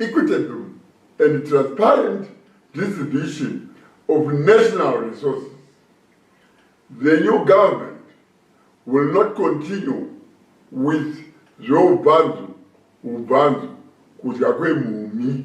equitable and transparent distribution of national resources. The new government will not continue with zveubvanzu ubvanzu kudya kwemhumhi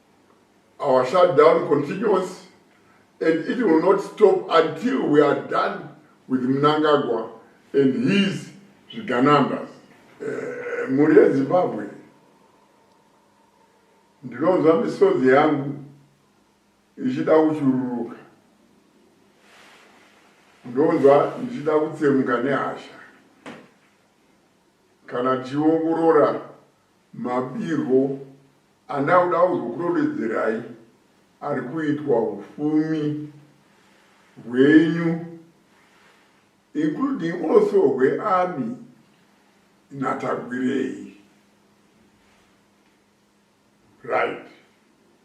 our shutdown continues and it will not stop until we are done with mnangagwa and his zviganambas eh, mhuri yezimbabwe ndinonzwa misodzi yangu ichida kuchururuka ndonzwa ndichida kutsemuka nehasha kana tichiongorora Mabirwo andakuda kuzokurovedzerayi ari kuitwa hupfumi hwenyu including also hweArmy naTagwirei. Right.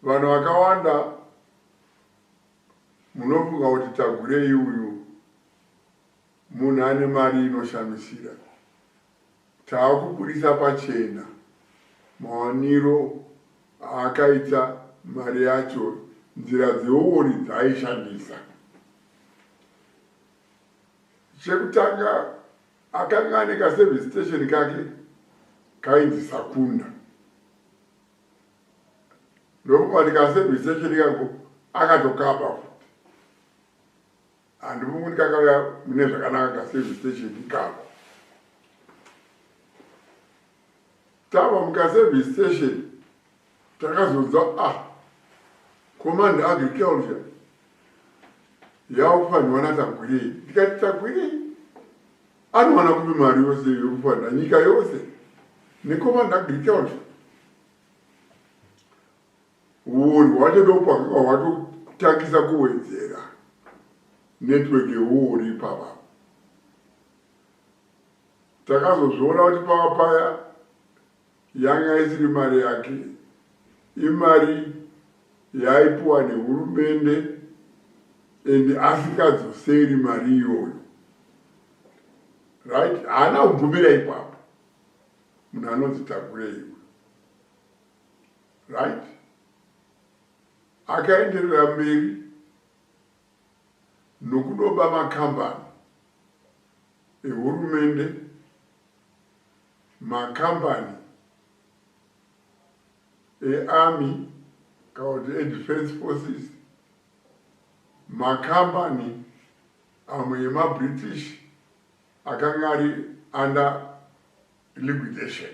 Vanhu vakawanda munofunga kuti Tagwirei uyu munhu ane mari inoshamisira. Tava kubudisa pachena mawaniro aakaita mari yacho, nzira dzeuori dzaaishandisa. Chekutanga akanga ane kaservice station kake kainzi Sakunda. Ndokubva ndikaservice station ikako akatokaba futi. Handifungi kuti kakauya mune zvakanaka kaservice station ikako. Tava mukaservice station takazonzwa a ah, command agriculture yakufanirwa natagwirei ndikati tagwirei anowana kupi mari yose yokufanira nyika yose necommand agriculture Huori hwacho ndopakanga hwatotangisa kuwedzera network yehuori ipapa. Takazozviona kuti pava paya yanga isiri mari yake, imari yaipiwa nehurumende and asikadzoseri mari iyoyo. Right? Haana kubvumira ipapo. Munhu anonzi takurei. Right? Akaenderera mberi nokudoba makambani ehurumende, makambani eArmy kana kuti eDefence Forces, makambani amwe emaBritish akanga ari under liquidation.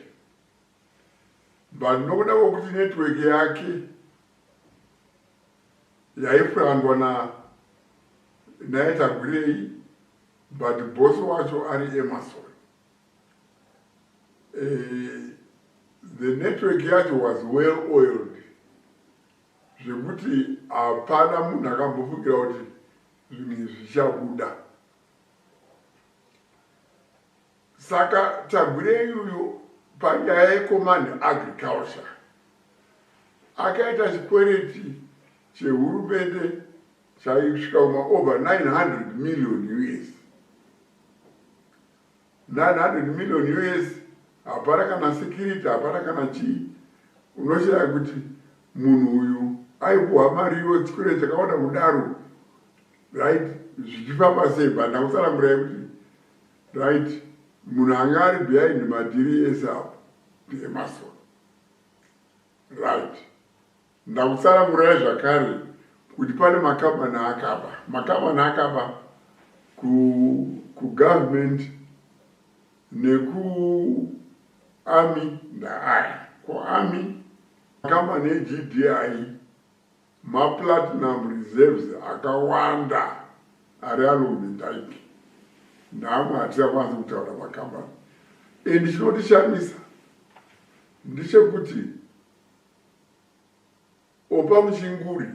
but nokuda kwekuti network yake yaifurandwa na naye tagwirei but boss wacho ari emerson eh, the network yacho was well oiled zvekuti hapana munhu akambofungira kuti zvinhu izvi zvichabuda Saka Tagwirei uyu panyaya yeCommand Agriculture akaita chikwereti chehurumende chaisvika kuma over 900 million us 900 million us hapana kana security hapana kana chii unoshaya kuti munhu uyu aipuwa mari iyo chikwereti chakawanda kudaro right zvichifamba sei but ndakusanangurai kuti Right munhu anga ari behind madhiri ese apo ndeemason right ndakutsanangurai zvakare kuti pane makambani akaba makambani akaba kugovernment nekuarmy ndaaya kuarmy makambani egdi Maplatinum reserves akawanda ari alomidike naamwe hatichakwanisi kutaura makambani and chinotishamisa ndechekuti opa muchinguri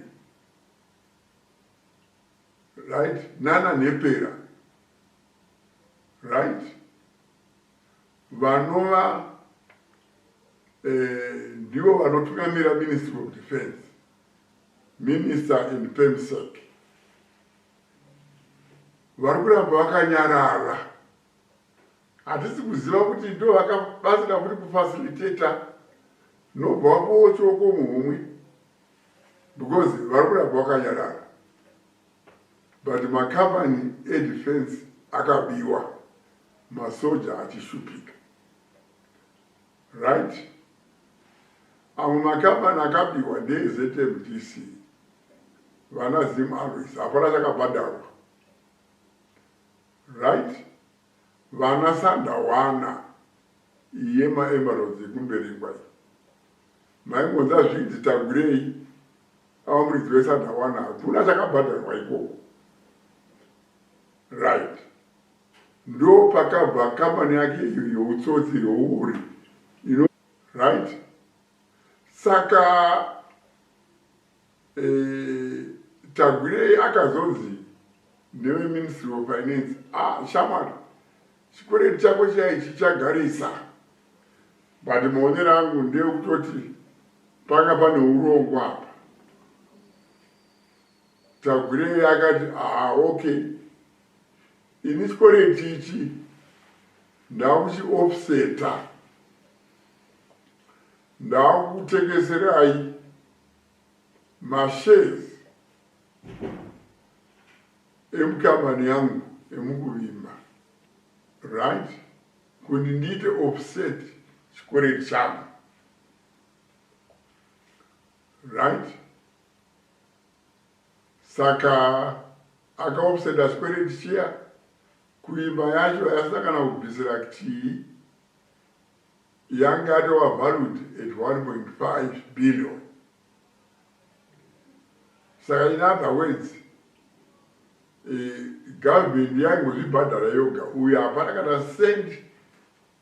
right nana nhepera right vanova eh, ndivo vanotungamira ministry of defense minister and pemsec vari kuramba vakanyarara hatisi kuziva kuti ndo vakabatsira kuti kufacilitata nobva wapowo choko muhumwe because vari kuramba vakanyarara But makambani edefense akabiwa masoja achishupika right amwe makambani akabiwa ndeezmdc vana zim always hapana chakabhadharwa right vana sandawana iye maemeralds ekumberengwa Maimboda zvinzi tagwirei ava muridzi wesadawana hakuna chakabhadharwa ikoko right ndo pakabva kambani yake iyo youtsotsi youori ino right saka Tagwirei akazonzi neveMinstry of Finance, ah shamwari chikwereti chako chiyai chichagarisa but maonero angu ndeekutoti panga pane urongwa apa. Tagwirei akati ah okay ini chikwereti ichi ndakuchiofseta ndakukutengeserai Mashares emukambani yangu emukuvimba right kuti ndiite offset chikoreti changu right saka akaoffseta chikoreti chiya kuimba yacho yasina kana kubvisira ktii yanga yatova valued at 1.5 billion saka in other words eh, government yaingozvibhadhara yoga uyo hapana kana cent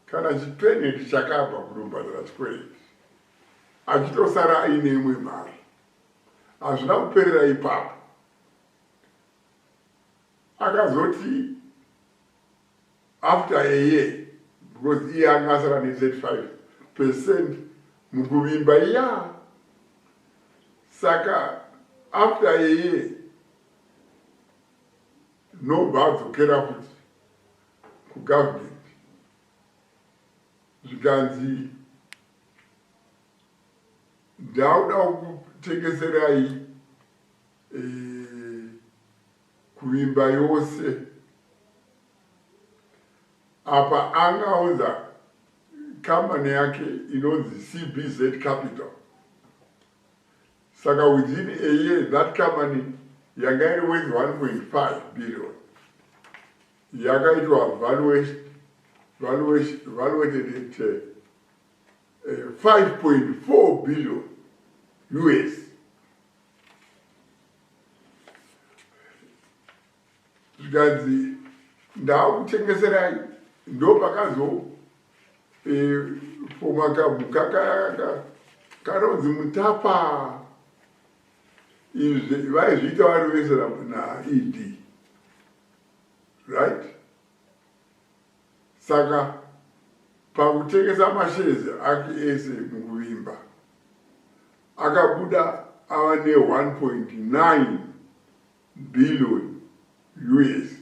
kana chipeneti chakabva kunobhadhara chikwereti achitosara aine imwe mari hazvina kuperera ipapo akazoti after a year because iye anga asara ne 35 percent mukuvimba iya saka after a year nobva adzokera futi kugovernment zvikanzi ndauda kutengeserai e, kuvimba yose apa anga audza company yake inonzi cbz capital saka within a year that company yanga iri worth 1.5 billion yakaitwa valuation valuation valuated it uh, eh, 5.4 eh, billion us zvikanzi ndakutengeserai ndopakazo e, foma kabhu kanonzi mutapa izvi vaizviita vari vese naed right Saka pakutengesa mashares ake ese mukuvimba, akabuda ava ne 1.9 billion us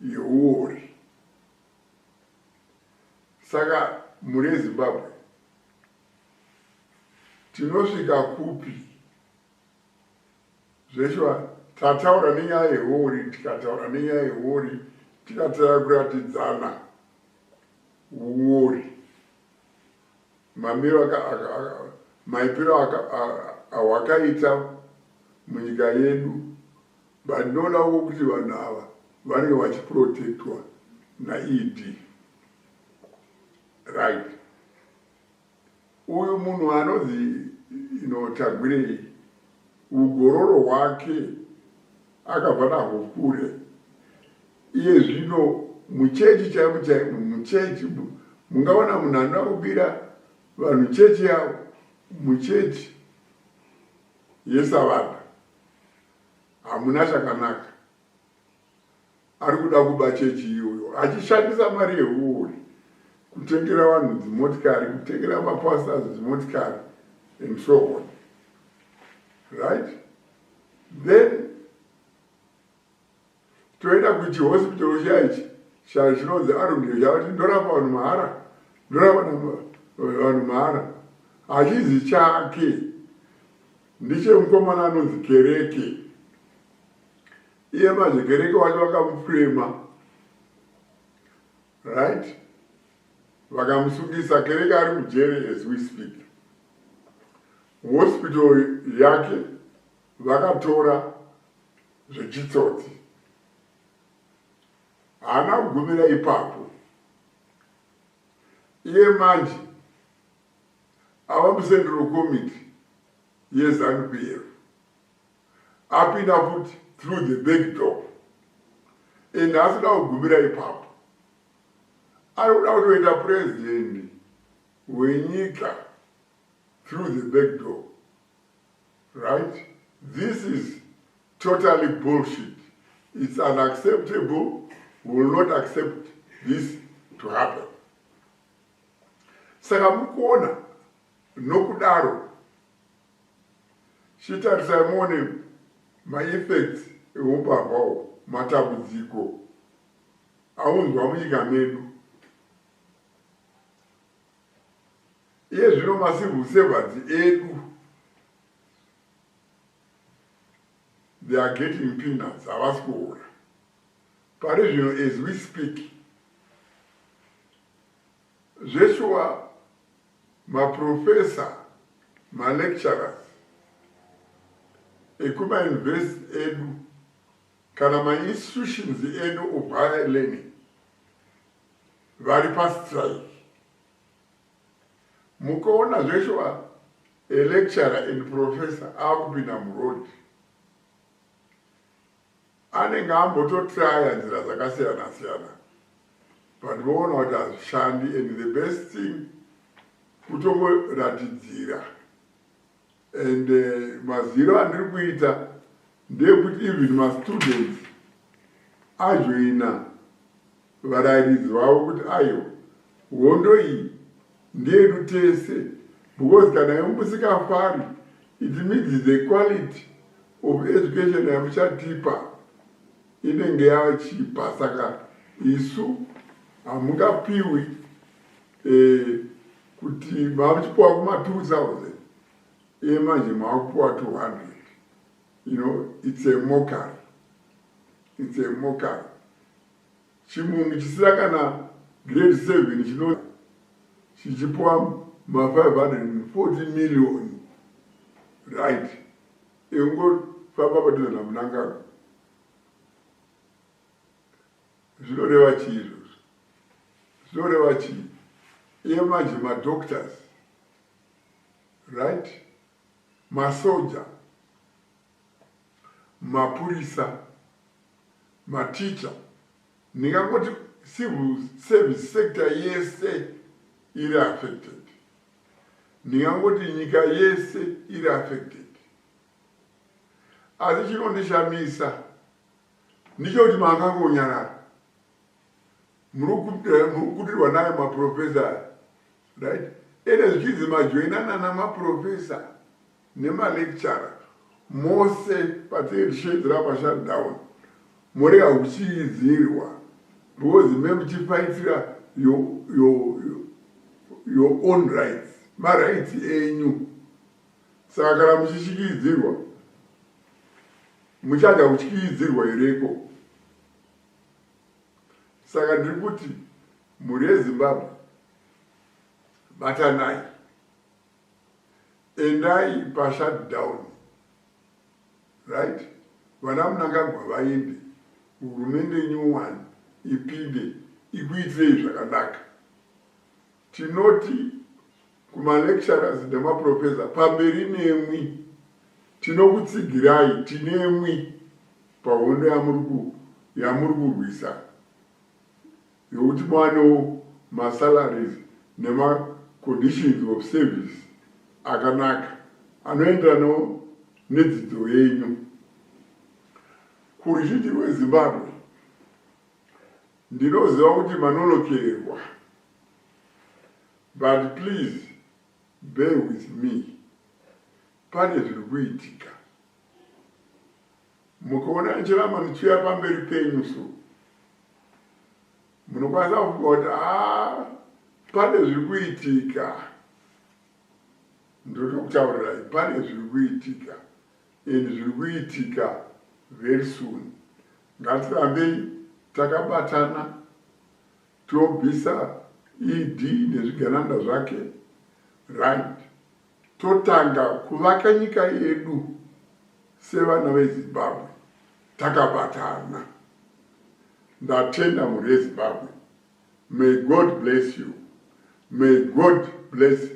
yehuori. Saka mune Zimbabwe tinosvika kupi? zveshuwa tataura nenyaya yehuori tikataura nenyaya yehuori tikataya kuratidzana uori mamiro maipiro awakaita munyika yedu but ndinoona wo kuti vanhu ava vanenge vachiprotectwa naed right Uyu munhu anonzi ino Tagwirei ugororo hwake akabva nahwo kure. Iye zvino muchechi chaimu chaimu muchechi mungaona munhu anoda kubira vanhu chechi yavo muchechi yesavana hamuna chakanaka. ari kuda kuba chechi iyoyo achishandisa mari yehuori kutengera vanhu dzimotikari kutengera mapastors dzimotikari and so on right then toenda kuchihospital chiya ichi chachinonzi arundio chavati ndorapa vanhu mahara ndorapa vanhu mahara hachizi chake ndichemukomana anonzi kereke iye manje kereke wacho vakamufrema right vakamusungisa kereke ari mujere as we speak hospital yake vakatora zvechitsotsi haana kugumira ipapo iye manje ava musendero komiti yezanu pf apinda futi through the back door and asida kugumira ipapo ari kuda kutoita president wenyika through the back door right this is totally bullshit it's unacceptable will not accept this to happen saka mukuona nokudaro Chitarisai muone maeffects ehumbavha uhu, matambudziko aunzwa munyika medu. Iye zvino macivil servants edu they are getting peanuts havasi kuhora pari zvino as we speak Zveshuwa ma professor ma lecturers ekuma university edu kana ma institutions edu of higher learning vari pa strike. Mukaona zveshuwa a lecturer and professor akupinda muroad anenge ambototraya nzira dzakasiyana siyana but voona kuti hazvishandi and the best thing kutongoratidzira and uh, maziro andiri kuita ndeyekuti even mastudents ajoina varairidzi vavo kuti ayo hondo iyi ndeyedu tese because kana yomusikafari it means the quality of education yamuchatipa inenge yachipa saka isu hamungapiwi eh, kuti mamuchipiwa kuma 2000 iye manje makupiwa 200 you know it's a mockery it's a mockery Chimunhu chisina kana grade 7 chino chichipwa ma 540 million right ekungofamba padhuze namunangagwa zvinoreva chii izvozvo zvinoreva chii iye manje madoctors right masoja mapurisa Maticha ndingangoti civil service sector yese iri affected. Ndingangoti nyika yese iri affected. Asi chinondishamisa ndicho kuti makangonyarara murikudirwa eh, nayo maprofesa right ende zvichinzi majoinana namaprofesa nemalecturer mose patirisheedzera pashutdown morega kuchiidzirwa because memuchifaitira your own rights marights enyu saka kana muchishikiidzirwa muchada kutyiidzirwa here ko saka ndiri kuti mhuri yezimbabwe batanai endai pashutdown right vana munangagwa vaende hurumende nyowani ipinde ikuitirei zvakanaka Tinoti kumalecturers nemaprofessor pamberi nemwi tinokutsigirai tinemwi pahondo yamuri yamuri kurwisa yokuti muwanewo masalaries nemaconditions of service akanaka anoenderanawo nedzidzo yenyu kuruzhinji rwezimbabwe ndinoziva kuti manonokerwa But please bear with me pane zviri kuitika mukaona nchirama zvichiuya pamberi penyu so munokwanisa kufunga kuti a pane zviri kuitika ndoda kutaurirai pane zviri kuitika and zviri kuitika very soon ngatirambei takabatana Tobvisa ED nezvigananda zvake right totanga kuvaka nyika yedu sevana veZimbabwe takabatana. Ndatenda mhuri yeZimbabwe may God bless you may God bless